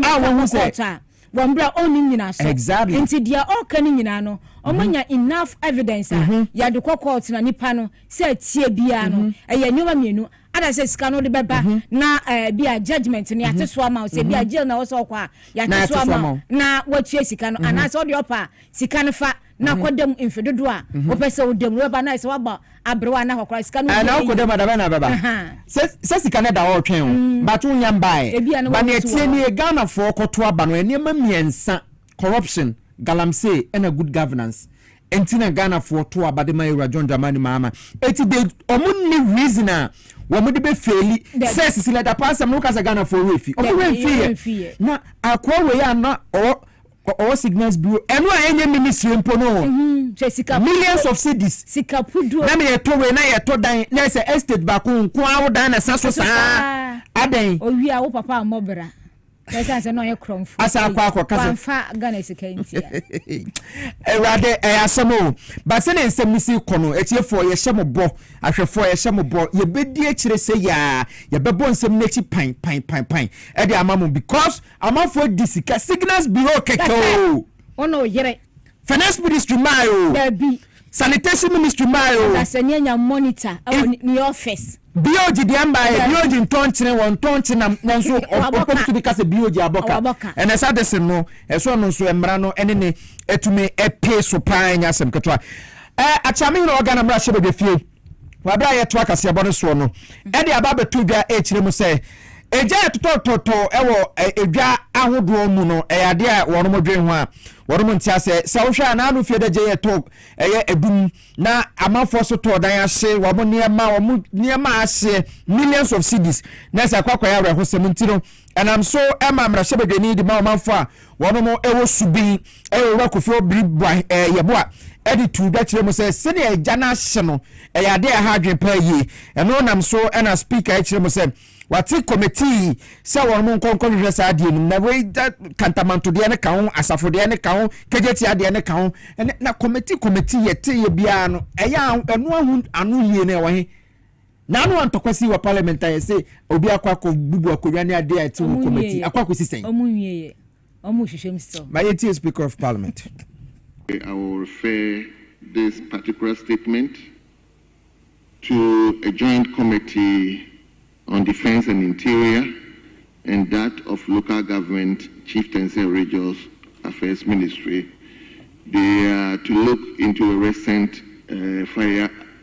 a wɔhu sɛ Wɔ mbrɛ a ɔnni nyinaso. Exactly. Ntsi deɛ ɔɔkã no nyinaa no, ɔmanya enough evidence a yɛde kɔ court na nipa no sɛ atsie biara no, ɛyɛ nneɛma mienu, either sɛ sika no wode bɛba na ɛɛ bi a judgement no yɛate so ama wo, sɛ bi a jail na ɔwɔ sɛ ɔkɔ a yɛate so ama wo na woatua sika no, anaasɛ ɔdeɛ ɔpɛ a sika no fa na akɔ dɛm mfe dodoɔ a wopɛ sɛ wodam no wobɛba no ayɛ sɛ woaba aberewa anaa akɔkora sika no na wokɔ dɛm adabɛ na abɛba sɛ sika no da hɔ ɔtwɛn o but wonya mbaɛ ba ne ɛteɛ nie Ghanafoɔ kɔto aba no nneɛma mmiɛnsa corruption galamsey ɛna good governance ɛnti na Ghanafoɔ to aba de ma Awura John Dramani Mahama ɛti de ɔmo nni reason a wɔn de bɛ fɛli sɛ sisi lɛtapaa sɛm no woka sɛ Ghanafoɔ wɔ efi ɔmo wɔ efi yɛ na akɔɔ wɔ yɛ ana ɔwɔ Ɔ ɔwɔ signals bureau ɛno a ɛnyɛ ministry mpo no o millions of cedis na meyɛ tɔ wei na yɛ tɔ dan na ɛsɛ estate baako nko ara wo dan na ɛsa so saa adɛn. Owia wo papa ammɔ bra ɛsan sɛ na ɔyɛ korɔmfo asa akɔ akɔ kasa wanfa Ghana sika ntia. Awurade ɛyɛ asɛm o ba sɛ ne nsɛm no si kɔ no atiefoɔ yɛhyɛ mo bɔ ahwɛfoɔ yɛhyɛ mo bɔ yɛbɛdi akyire sɛ yaa yɛbɛbɔ nsɛm no akyi pan pan pan pan ɛde ama mo because Amanfoɔ di sika signals bureau kɛkɛ oo. Ɔna ɔyere. Finance ministry mae oo. Dabi. Sanitation ministry mae oo. Ɔdasani anya monitor ɛwɔ ne office. BOG deɛ mmaeɛ, BOG ntɔ nkyene, wɔntɔ nkye nam, nanso ɔpɔp tumi ka sɛ BOG abɔ ka. Ɛnna ɛsɛ Addison no, ɛsɛ ɔno nso mmara no ne ne tumi pee so paa, ɛnyɛ asɛm ketewa. Ɛɛ Akyea me hene ɔga na mmarahyɛbadwafie. wɔ aberɛ a yɛtoa kaseɛbɔ no soɔ no de aba abɛto dwa ɛkyerɛ mu sɛ egya ɛtotɔtotɔ wɔ edwa ahodoɔ mu no ɛyɛ adeɛ a wɔn mo dwen ho a wɔn mo nte asɛ sɛ wohwɛ a naano fie dagye yɛ tɔ ɛyɛ edum na amanfoɔ so tɔɔ dan ahye wɔn mo nneɛma wɔn mo nneɛma ahye millions of cedis na ɛsɛ akɔ akɔyɛ awerɛhosɛm nti no ɛnam so ɛma mmarahyɛbadwani de ma ɔmanfoɔ a Wɔnom wɔ subin ɛyɛ Owura Kofi Obiri Boah Yeboah ɛde tuu dwa kyerɛ mu sɛ sɛnea agya no ahyɛ no ɛyɛ adeɛ a ɛha adwene paa yie. Ɛno nam so na Speaker ɛkyerɛ mu sɛ wate kɔmɛtii sɛ wɔnom nkɔ nkɔ hwehwɛ saa adeɛ nom na wei da Kantamanto deɛ no ka ho, Asafo deɛ no ka ho, Kegyetia deɛ no ka ho. Ɛnɛ na kɔmɛtii kɔmɛtii yɛteeɛ biara no ɛyɛ a ɛno ahu ano yie no ɛwɔ he? Naano a ntɔkwa sii wɔ parliament ayɛ se obi akɔ akɔ bubu akonwa ne adeɛ a ɛte ho committee akɔ akosi sɛn? Ɔmo nwie yɛ. Ɔmo rehwehwɛ mu still. Ma yɛntie speaker of parliament. I will refer this particular statement to a joint committee on defence and interior and that of local government, chieftaincy and regions affairs ministry. They are to look into a recent fire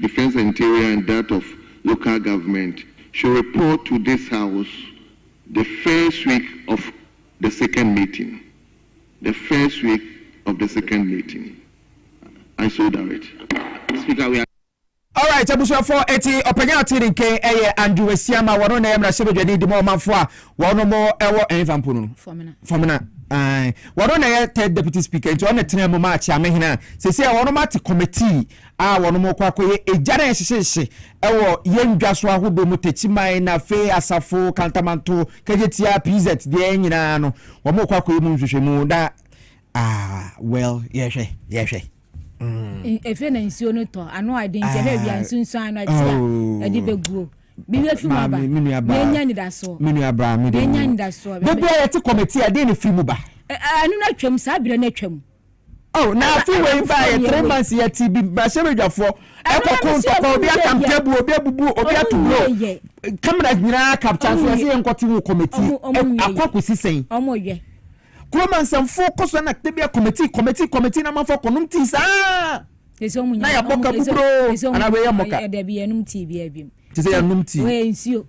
Defence and Interior and that of Local Government should report to this House the first week of the second meeting, the first week of the second meeting. I so direct. Speaker, we are. Alright, abusuafoɔ eti ɔpanyin a ɔte ne nkan yɛ Andrew Asiamah, wɔn na ɛyɛ mmarahyɛbadwani de ma ɔmanfoɔ a Wɔnom ɛwɔ ɛnfa mpo no Fɔmena ae wɔno na ɛyɛ third deputy speaker nti ɔno tena mu ma akyeame hena sese a wɔnom ate committee a wɔnom kɔ akɔyɛ egya na ɛhyehyehye ɛwɔ yɛn dwa so ahodoɔ mu takyiman na fe asafo kantamanto kagyetia pz deɛ nyinaa no wɔn kɔ akɔyɛ mu nhwehwɛ mu na Ah, well, yɛhwɛ, yɛhwɛ. Mm. Efe na nsuo no tɔ, ano a ɛde nti ɛhwɛ wia ah. nsunsuan no ɛte a oh. ɛde bɛguo. Bi bɛ fi mu aba, yɛnya nidasoɔ. Me nua baa mi de mu. Yɛnya nidasoɔ. Bɛbi a yɛte kɔmɛti a, den ne firi mu ba. Ɛno na atwam, saa abirɛ na atwam. Oh, na afi wei ba yɛ three months yɛ ti bi bahyɛ badwafoɔ ɛkɔko ntɔkɔ obi atam table obi abubu obi ato buro kamera nyinaa kapta so ɛsɛ yɛn nkɔte ho kɔmɛti akɔ akɔsi sɛn. Kurom ansɛmfo kɔ so na da bi a kɔmɛtii kɔmɛtii kɔmɛtii na amanfo akɔnom tii saa. Ɛsɛ ɔmo nya na yɛabɔ ka buburo anaa wei yɛ mmɔka. Ɛdɛ bi yɛnom tii bi abim. Te sɛ yɛnom tii. Wei nsuo.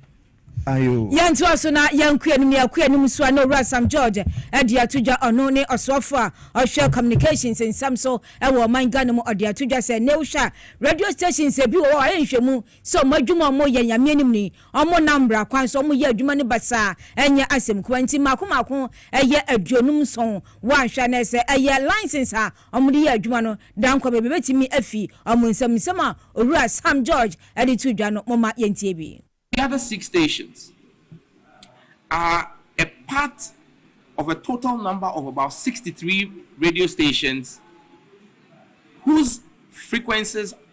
Ayo. Yɛntoa so na yɛnko anim na yɛkɔ anim nso a na Owura Sam George de ato dwa ɔno ne ɔsoafo a ɔhwɛ communications nsɛm so wɔ ɔman Ghana mu ɔde ato dwa sɛ nnɛ wohwɛ a radio stations ebi wɔ hɔ a wɔayɛ nhwɛmu sɛ wɔn adwuma a wɔyɛ Nyame anim no yi, wɔnnam mmara kwan so, wɔyɛ adwuma no basaa, ɛnyɛ asɛm kumaa nti, mmaako mmaako ɛyɛ aduonum nson, woanhwɛ a na ɛyɛ sɛ ɛyɛ license a wɔn de yɛ adwuma no, daa nkwa baabi bɛtumi afi wɔn nsam, nsɛm a Owura Sam George de too dwa no, momma yɛntie bi. The other six stations are a part of a total number of about sixty three radio stations whose frequencies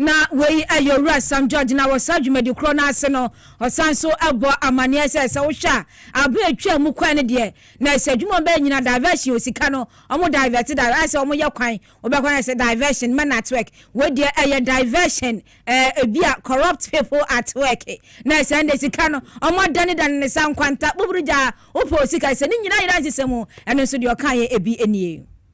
Na wei yɛ Owura Sam George na wɔ saa dwumadi korɔ no ase no, ɔsan nso bɔ amaneɛ sɛ, sɛ wohwɛ a, aberɛ a ɛtwaa mu kɔɛ no deɛ, na sɛ adwuma a wɔbɛyɛ nyina, diversion o, sika no, wɔn divert, di, ayɛ sɛ wɔyɛ kwan, wobɛkɔ no ayɛ sɛ diversion, mɛnɛ at work, wei deɛ ɛyɛ diversion, ɛɛ, ebi a corrupt people at work, na sɛ ɛnde sika no, wɔn adane dane no saa nkwanta, buburu gyaa, wopɛ o sika, sɛ ne nyina yera nsesɛ mu, ɛno nso deɛ ɔkaeɛ ebi nie.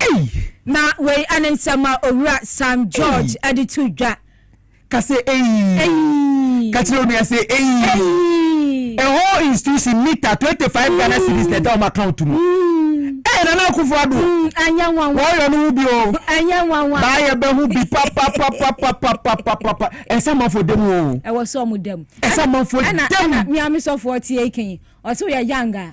Ei! Na wei ɛne nsɛm a Owura Sam George Ei! de to dwa. Ka sɛ ei! Ei! Ka kyerɛ wo nua sɛ ei! Ei! A whole institution meter twenty five Ghana cedis na ɛda wɔn account mu. Mm. Ei! Nana Akufo Addo, Mm, ɛnyɛ nwanwa. wɔreyɔ no ho bi o. Ɛnyɛ nwanwa. Baa yɛbɛho bi papapapapapapapapa. Ɛsɛ amanfoɔ da mu o. Ɛwɔ sɛ wɔn da mu. Ɛsɛ Ɛna, amanfoɔ ɛna, da mu. ɛna, mia me sɔfoɔ tie yi kan yi. Ɔse woyɛ young a.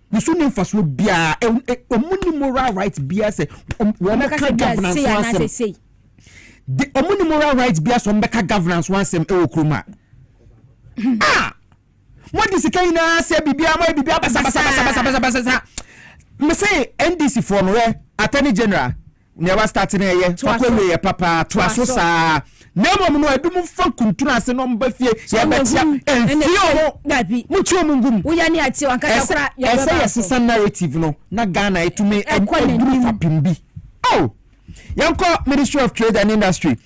ne so nni mfasoɔ biara ɔmo ni moral right biara sɛ wɔn ka governance ho asɛm de ɔmo ni moral right biara sɛ wɔn bɛka governance ho asɛm ɛwɔ kurom a a mo de sika nyinaa sɛ biribiara mo ayɛ biribiara basabasabasabasabasa mese ndc foɔ no yɛ attorney general. Nea wa start no ɛyɛ fa kɔ wie yɛ papa toa so saa na mmom no ebi mo fa kuntunu ase na ɔmo ba fie yɛ bɛ tia nfie ɔmo mo ti ɔmo ngum ɛsɛ ɛsɛ yɛ sesa narrative no na Ghana etumi ɛduru fapem bi oh yɛn kɔ ministry of trade and industry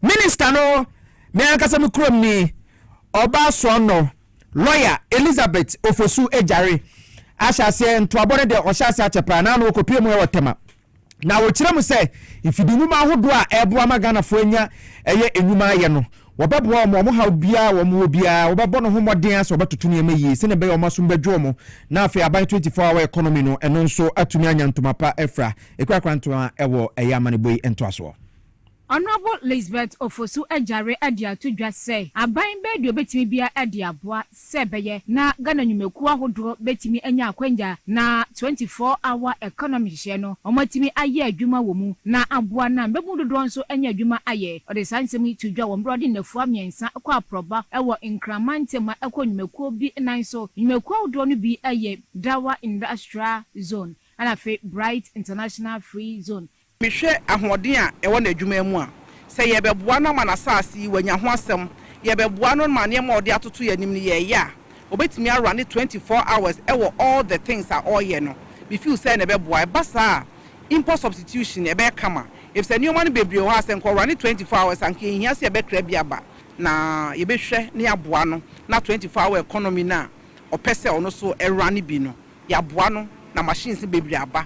minister no me ankasa me kurom ni ɔba soɔ no lawyer Elizabeth Ofosu Ejare ahyɛ aseɛ ntoabɔ no deɛ ɔhyɛ aseɛ akyɛ paa na ano okopie mu ɛwɔ tɛma. Na wɔkyerɛ mu sɛ mfidi nnwuma ahodoɔ a ɛreboa ma Ghanafoɔ anya ɛyɛ nnwuma ayɛ no, wɔbɛboa wɔn, wɔn haw biara a wɔwɔ biara, wɔbɛbɔ no ho mmɔden ara sɛ wɔbɛtoto nneɛma yie sɛdeɛ ɛbɛyɛ a wɔn asom bɛdwo wɔn, na afei aban twenty four hour economy no, ɛno nso atumi anya ntoma pa afira, ɛkurakura ntoma wɔ ɛyɛ amanebɔ yi ntoasoɔ. Honourable Lisbeth Ofosu Agyare de ato dwa sɛ aban bɛyɛ deɛ ɔbɛtumi biara de aboa sɛ ɛbɛyɛ na Ghana nnwumakuo ahodoɔ bɛtumi anya akwanya na twenty four hour economy nhyehyɛeɛ no wɔatumi ayɛ adwuma wɔ mu na aboa na mmabunu dodoɔ nso anya adwuma ayɛ. Ɔde saa nsɛm yi too dwa wɔ mmerɛ a ɔde nnafua mmiɛnsa kɔɔ aprɔba wɔ Nkran mantam ma ɛkɔɔ nnwumakuo bi nan so. Nnwumakuo ahodoɔ no bi yɛ Dawa Industrial Zone ɛna afei Bright International Free Zone Mehwɛ ahoɔden a ɛwɔ n'adwuma mu a, sɛ yɛrebɛboa no ama n'asase yi wanya ho asɛm, yɛrebɛboa no ma nneɛma a ɔde atoto yɛn anim no yɛreyɛ a, obetumi arane twenty four hours wɔ all the things a ɔreyɛ no. Me feel sɛ na ɛbɛboa. Ɛba saa a, import substitution ɛbɛyɛ kama efisɛ nneɛma no bebree wɔ hɔ a sɛ nka ɔrane twenty four hours a, nka yɛnhia sɛ yɛbɛkra bi aba. Na yɛbɛhwɛ na yɛaboa no na twenty four hour economy no a ɔpɛ sɛ ɔno nso ɛrane bi no, yɛaboa no na machines no bebree aba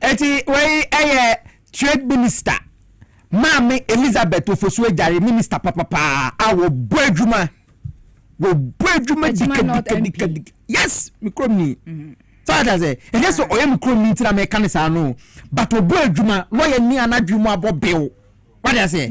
Enti wei yɛ Trade Minister maame Elizabeth Ofosu-Adjare Minister papa paa a wɔbɔ adwuma wɔbɔ adwuma dikadikadikadi yes me kurom ni so ate ase ɛnyɛ sɛ ɔyɛ me kurom ni nti na meka ne saa no but ɔbɔ adwuma lɔyɛ ni anadwe mu abɔ bew wate aseɛ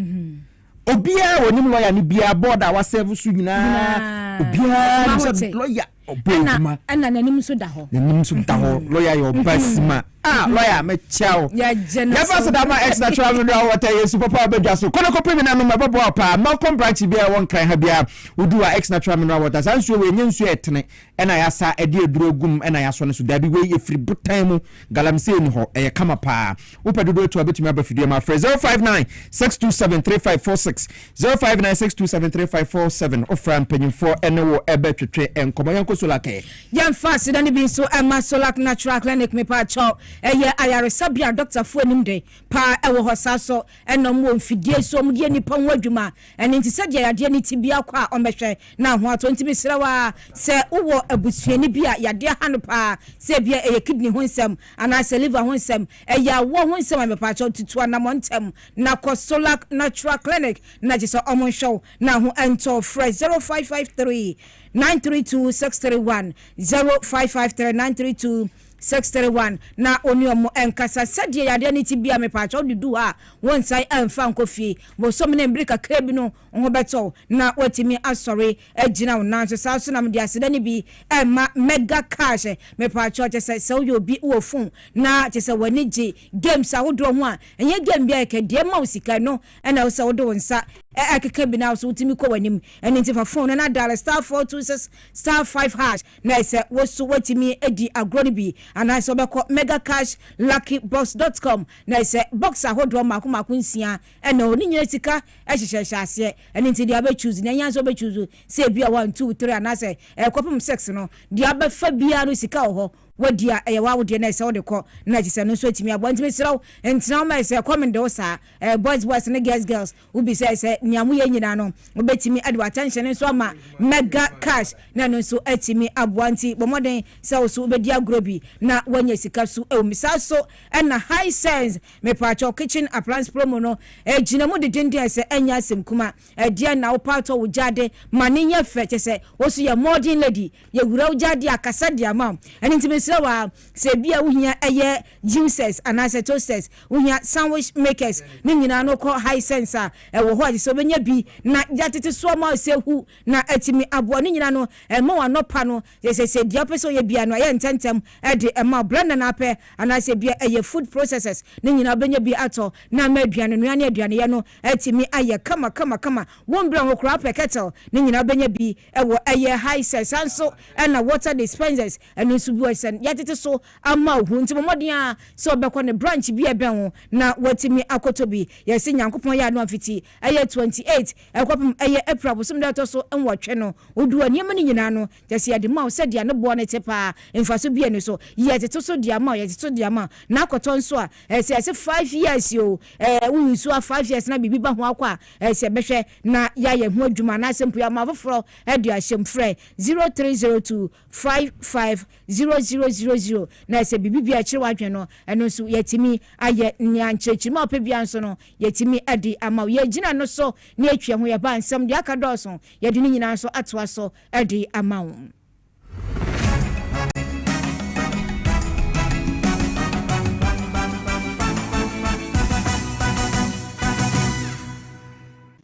Obiara a ɔnim lɔya no biara, bɔɔd a wasɛɛvo so nyinaa, obiara nim sɛ lɔya ɔbɔ adwuma. Ɛna n'anim nso da hɔ. N'anim nso da hɔ. Lɔya yɛ ɔba sima. A lɔya mɛkyɛ wo. Yɛfa so da ma ɛtena kyerɛ me nura wɔta Yesu papa a ɔbɛdwa so. Kɔnɔ kɔpɛ mi nanom ɛbɛboa wo paa. Malcolm branch biara ɛwɔ Nkran ha biara wodu a ɛtena kyerɛ me nura wɔta. Saa nsuo wei ɛnyɛ nsuo a ɛtene. Ɛna yasa ɛde aduro agum ɛna yasɔ no so daabi wei ɛfiri botan mu galamsey ni hɔ ɛyɛ kama paa wopɛ dodoɔ ɛtu a wobɛtumi aba fidie mu afrɛ zero five nine six two seven three five four six zero five nine six two seven three five four seven wofrɛ a mpanyinfoɔ ɛne wo ɛbɛ twetwe nkɔmɔ yɛnkɔ solakɛ. Yɛnfa aseda no bi nso ɛma Solak Natural Clinic mepaakyɛw ɛyɛ ayaresabea a dɔktafoɔ anim den paa ɛwɔ hɔ saa so ɛna ɔmo wɔ mfidie so ɔmo de yɛ nipa ho adwuma Ɛno nti sɛdeɛ yadeɛ no te biara kɔ a ɔmmɛhwɛ na ho atɔ. Nti mesrɛ wo ara sɛ wowɔ abusuani bi a yadeɛ ha no paa sɛ ebia ɛyɛ kidney ho nsɛm anaasɛ liver ho nsɛm, ɛyɛ awɔ ho nsɛm a mepakyɛw tutu anamɔ ntɛm na kɔ Solac Natural Clinic na gye sɛ ɔmo nhwɛ wo na ho ntɔ wo. Frɛ 0553 932 631, 0553 932 Six three one na ɔne wɔn nkasa sɛdeɛ yadeɛ no te biara mepaakyɛw wode du hɔ a wonsan ɛmfa nkɔ fie bosome ne mbere kakra bi no wo ho bɛtɔ wo na woatumi asɔre agyina wo nan so saa nso na mede aseda no bi rema mega cash mepaakyɛw kyɛ sɛ sɛ woyɛ obi wɔ phone na kyɛ sɛ w'ani gye games ahodoɔ ho a ɛnyɛ game biara kɛ deɛ ɛma wo sika ɛno ɛna ɛwɔ sɛ wode wo nsa ɛkeka bi na wo so wotumi kɔ w'anim ɛno nti fa phone no na dial star four two six star five hash Na sɛ wo nso woatumi adi agorɔ no bi anaasɛ wobɛkɔ megacashluckybox dot com na ɛsɛ box ahodoɔ mmaako mmaako nsia ɛna ɔ ne nyina sika ɛhyehyɛ nhyɛaseɛ ɛno nti deɛ wobɛ choose nea ɛhia sɛ wobɛ choose sɛ ebi a one two three anaasɛ ɛkɔpem six no deɛ wobɛfa biara no sika wɔ hɔ wadi a ɛyɛ wawo deɛ na ɛsɛ wode kɔ na ɛkyɛ sɛ ɛno nso atumi aboa nti mesrɛ wo ntena wo ma ɛsɛ ɛkɔm nde wo saa ɛɛ boys boys ne girls girls Wobisae sɛ, Nea moyɛ nyinaa no, wubetumi de w'atɛnhyɛne nso ama Mega Cash na ɛno nso atumi aboa? Enti bɔ mmɔden sɛ wo nso wubedi agorɔ bi na woanya sika so wom. Saa ara nso na Hisense Mepatwɔ Kitchen Appliance Promo no gyina mu denneennen. Sɛ ɛnyɛ asɛm kuma, ɛdeɛn na wopɛ atɔ wo gyaade ma no nyɛ fɛ? Kyerɛ sɛ, wo nso yɛ modern lady. Yɛawura wo gyaade akasa de ama wo. Ɛno nti mesrɛ wo ara, sɛ ebia wuhia ɛyɛ Juicers anaasɛ toasters, wohia sandwich makers, ne nyinaa no kɔ Hisense a ɛwɔ hɔ a ɛsɛ sɛ wobɛnya bi na yɛatete so ama ɔsɛ ahu na atumi aboa. Ne nyinaa no ɛma wo anɔpa no yɛ sɛ sɛ deɛ wopɛ sɛ woyɛ biara no ɛyɛ ntɛntɛm de ma wo. Blender na wopɛ anaasɛ bia ɛyɛ food processors, ne nyinaa wobɛnya bi atɔ na ama aduanenoa ne aduaneyɛ no atumi ayɛ kama kama kama. Wombrɛ ho koraa wopɛ kettle, ne nyinaa wobɛnya bi wɔ ɛyɛ Hisense. Saa nso na water dispensers, Ɛno nso buae sɛ, Yɛatete so ama wo, nti bɔ mmɔden ara sɛ wobɛkɔ ne branch bi a ɛbɛn wo na woatumi akɔtɔ bi. Yɛse sɛ Nyankopɔn yɛ adom a fiti ɛyɛ 28 ɛkɔpem ɛyɛ April bosome da a ɛtɔ so nwɔtwe no, wode w'anneɛma no nyinaa no, kyerɛ sɛ yɛde ma wo sɛdeɛ ne boɔ no te paa, mfaso biara nni so. Yɛtete so de ama wo, yɛtete so de ama wo. Na akɔtɔ nso a, ɛsɛ yɛse five years o, ɛɛ wo use a five years na biribi ba ho akɔ a, ɛsɛ yɛbɛhwɛ na yɛayɛ ho adwuma anaasɛ mpo yɛama afoforɔ de ahyɛ mu. Frɛ 0302 Five five zero zero zero zero na sɛ biribi biara ɛkyere w'adwene no ɛno nso yɛtumi ayɛ nea nkyerɛkyerɛmu a wopɛ biara nso no yɛtumi ɛde ama wo yɛgyina no so na yɛtwea ho yɛba nsɛm deɛ aka dɔɔso yɛde ne nyinaa nso atoa so ɛde ama wo.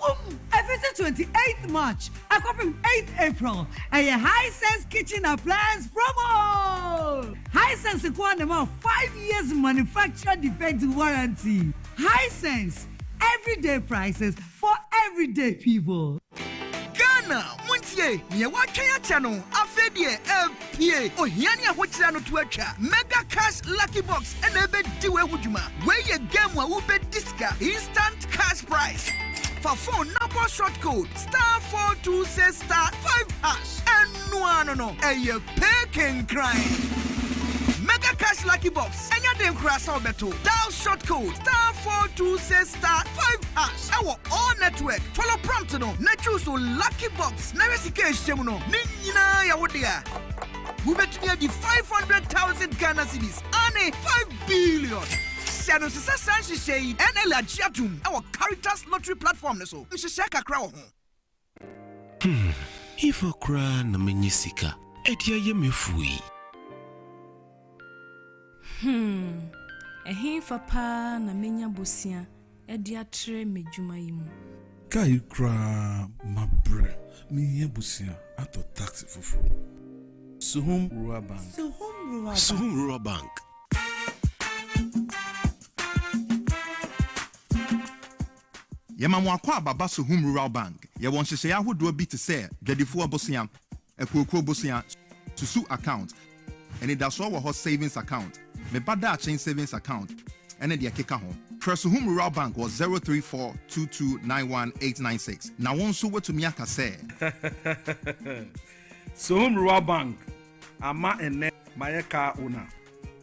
Wom, ɛfiri sɛ 28th March akɔpem 8th April ɛyɛ Hisense Kitchen Appliance Promo! Hisense nko ara na ɛma wo five years manufacturer defect warranty. Hisense, everyday prices for everyday people. Ghana, montie! Nea wɔatwɛn akyɛ no, afei deɛ ɛreba! Pie! Ohia ne ahokyere ano to atwa. Mega Cash Lucky Box na ebedi wei ho dwuma. Wei yɛ game a wubedi sika, instant cash prize. Fa phone na bɔ short code star four two six star five hash. Ɛno ara no no, ɛyɛ pay kenkran. Mega Cash Lucky Box, ɛnyɛ den koraa sɛ wobɛto. Dial short code star four two six. Star five hash ɛwɔ all network. Follow prompt no na choose wo lucky box na hwɛ sika a ɛhyɛ mu no. Ne nyinaa yɛ wo dea. Wobɛtumi adi five hundred thousand Ghana cedis aane five billion. Hyɛ no sesa saa nhyehyɛɛ yi ɛna agye atom ɛwɔ Caritas lottery platform no so. Nhyehyɛɛ kakra wɔ ho. Hmm, hefa koraa na manya sika de ayɛ m'afuo yi? Hmm, ɛhefa paa na manya bosea de atrɛ m'adwuma yi mu? Kaa yi koraa mabrɛ, mehia bosea atɔ taxi foforɔ. Suhum Rural Bank. Suhum Rural Bank. Suhum Rural Bank. Yɛma mo akɔ Ababa Sohum Rural Bank. Yɛwɔ nhyehyɛe ahodoɔ bi te sɛ Dwadifoɔ Bosea, Akuokuo Bosea, Susu Account, Anidasoɔ wɔ hɔ Savings Account, Me Ba Daakye Savings Account, ne deɛ ɛkeka ho. Frɛ Sohum Rural Bank wɔ zero three four two two nine one eight nine six na wo nso woatumi aka sɛ. Sohum Rural Bank, ama ɛnnɛ mayɛ car owner.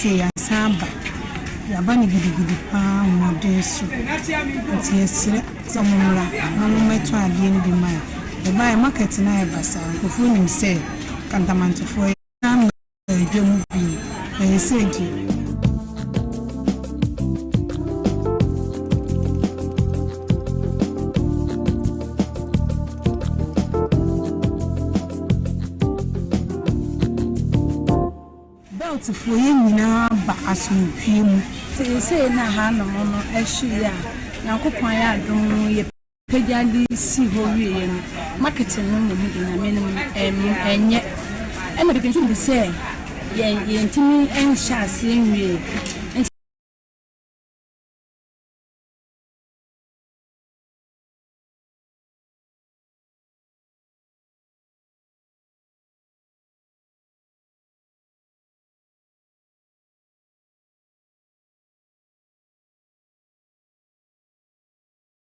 sɛ yɛasan aba yɛaba no gidigidi paa mmɔden so nti yɛsrɛ sɛ mommra na mommɛtɔ adeɛ no bi ma yɛ yɛbaeɛ market no ayɛ basaa nkurɔfoɔ nim sɛ kantamantefoɔ yɛ Dwa mu bi ɛyɛ sɛ nti. Beltfoɔ yɛn nyinaa ba asomdwie mu. Seesei na hanom no ahyewie a, Nyankopɔn ayɛ adom yɛ. pagya de sii hɔ wieeɛ no, marketing no mmom de Nyame no mu nyɛ. Ɛna pii nso bu sɛ yɛn yɛntumi nhyɛ aseɛ nwie.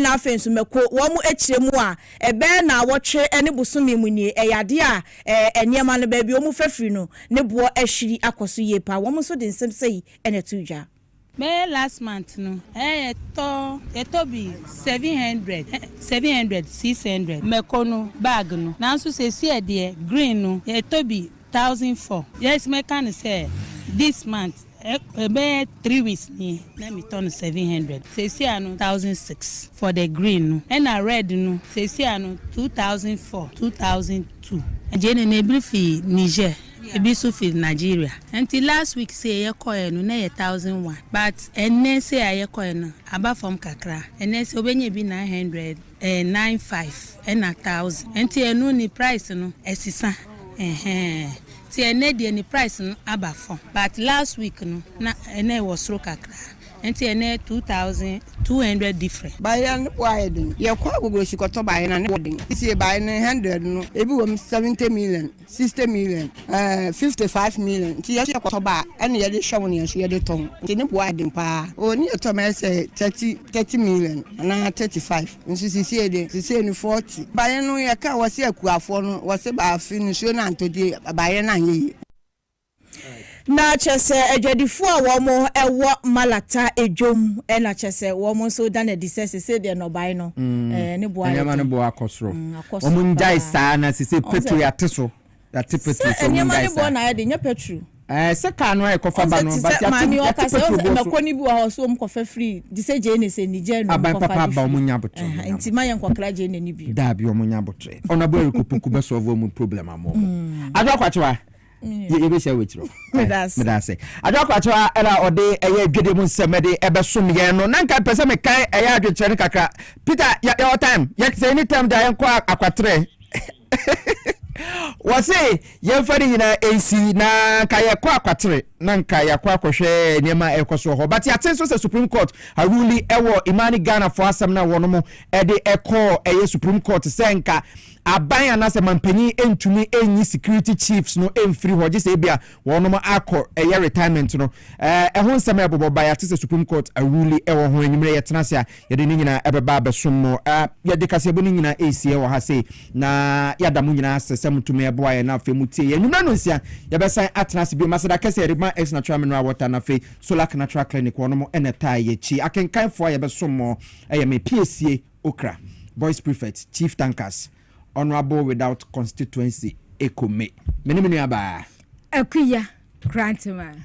na afei nso mako wɔn akyire mu a ɛbɛyɛ naawɔtwe ne bosome mu nie, ɛyɛ adeɛ a ɛɛ nneɛma no baabi wɔn fa firi no ne boɔ ahwiri akɔ so yie paa, wɔn nso de nsɛm sɛi na ɛtoo dwa. Bɛyɛ last month no ɛɛ yɛtɔ yɛtɔ bi seven hundred seven hundred six hundred mako no bag no nanso sesie deɛ green no yɛtɔ bi thousand four. Yes mɛka no sɛ this month ɛbɛyɛ three weeks nie na me tɔ no seven hundred sesia no thousand six for the green no ɛna red no sesia no two thousand four two thousand two. Agye ne ne biri firi Niger ebi nso firi Nigeria nti last week sei yɛ kɔɛ no na ɛyɛ thousand one but ɛnnɛ sei a yɛ kɔɛ no aba fam kakra ɛnnɛ sei wobɛnya ebi nine hundred Eh nine five ɛna thousand ɛnti ɛno ne price no ɛsesa ɛhɛɛɛ ti ɛnɛ deɛ ne price no aba fɔm but last week no na ɛna ɛwɔ soro kakra ɛnti ɛnɛ two thousand two hundred different. Baeɛ no bo ayɛ den. Yɛkɔ Agoglosi kɔtɔ baeɛ no a ne bo den. Seisei baeɛ no hundred no ebi wɔ mu seventy million. 60 million ɛɛ 55 million nti yɛsɛ yɛkɔtɔ ba a ɛna yɛde hwɛ wo ne yɛsɛ yɛde tɔn nti ne boa ɛden paa o ne yɛtɔ ma ɛsɛ 30 30 million anaa 35 nso sisi ɛde sisi ne 40 bayɛ no yɛka wɔsɛ akuafoɔ no wɔsɛ baafi nsuo no antɔdie bayɛ no anyɛ yie. Na kyerɛ sɛ adwadifoɔ a wɔwɔ malacca dwom na kyerɛ sɛ wɔn nso da no adi sɛ seesei deɛ nnɔbae no ɛɛ ne boɔ ayɛ den nneɛma no boɔ akɔ soro mm, akɔ soro wɔn ngyae saa na seesei petro yɛate so yɛate petro so wɔn ngyae saa sɛ nneɛma no boɔ na ayɛ den nyɛ petro ɛɛ eh, sɛ kaa no a ɛkɔfa ba no but yɛate yɛate petro boɔ so mɛkɔ no bi wɔ hɔ so wɔn kɔfa firi de sɛ gyee ne sɛ nigya nu aban papa aba wɔn nya abotire eh, nti ma yɛn kɔkra gyee n'ani bi daabi wɔn nya abotire ɔnabɔ ɛrekɔ puku bɛsɔɔvo wɔn problem ama wɔn mm. adwa kwakyewa yɛbɛhyia wɔ akyirɛ meda ase adwo akwakyɛwa ɛna ɔde ɛyɛ dwedeɛ mu nsɛm ɛde ɛbɛsom yɛn no na nka pɛ sɛ mekan ɛyɛ adwenkyerɛ no kakra peter yɛwɔ time sɛ ɛni time da yɛnkɔ akwaterɛ wɔse yɛmfa ne nyinaa ɛnsi na nka yɛkɔ akwatere na nka yɛakɔ akɔhwɛ nneɛma a ɛkɔ soɔ hɔ but yɛate nso sɛ supreme court aruli ɛwɔ imani ghanafoɔ asɛm no a wɔnom ɛde ɛkɔɔ ɛyɛ supreme court sɛ nka Aban anaasɛ manpanyin ntumi nyi security chiefs no mfiri hɔ gye sɛ ebia wɔnom akɔ ɛyɛ retirement no. Ɛɛ ɛho nsɛm a ɛbobɔ ba yɛate sɛ Supreme Court aruli ɛwɔ ho. Anwumerɛ yɛtena ase a yɛde ne nyinaa ɛbɛba abɛsom mo. Ɛɛ yɛde kaseɛbɔ no nyinaa ɛresie wɔ ha sei na yɛada mo nyinaa ase sɛ motumi ɛboa yɛn na afei motie yɛn. Anwumerɛ nonsia yɛbɛsan atena ase bio. Maseda kɛse Erythma X Natural Mineral Water na afei Solac Natural Clinic wɔnom ɛna ɛtaa yɛakyi. Akenkanfoɔ a yɛbɛsom mo ɛyɛ me Piesie. Okra, Boys Prefect, Chief Tankers, Honourable without Constituency Echo Me, Me ne me nua baa. Akuya Krantman.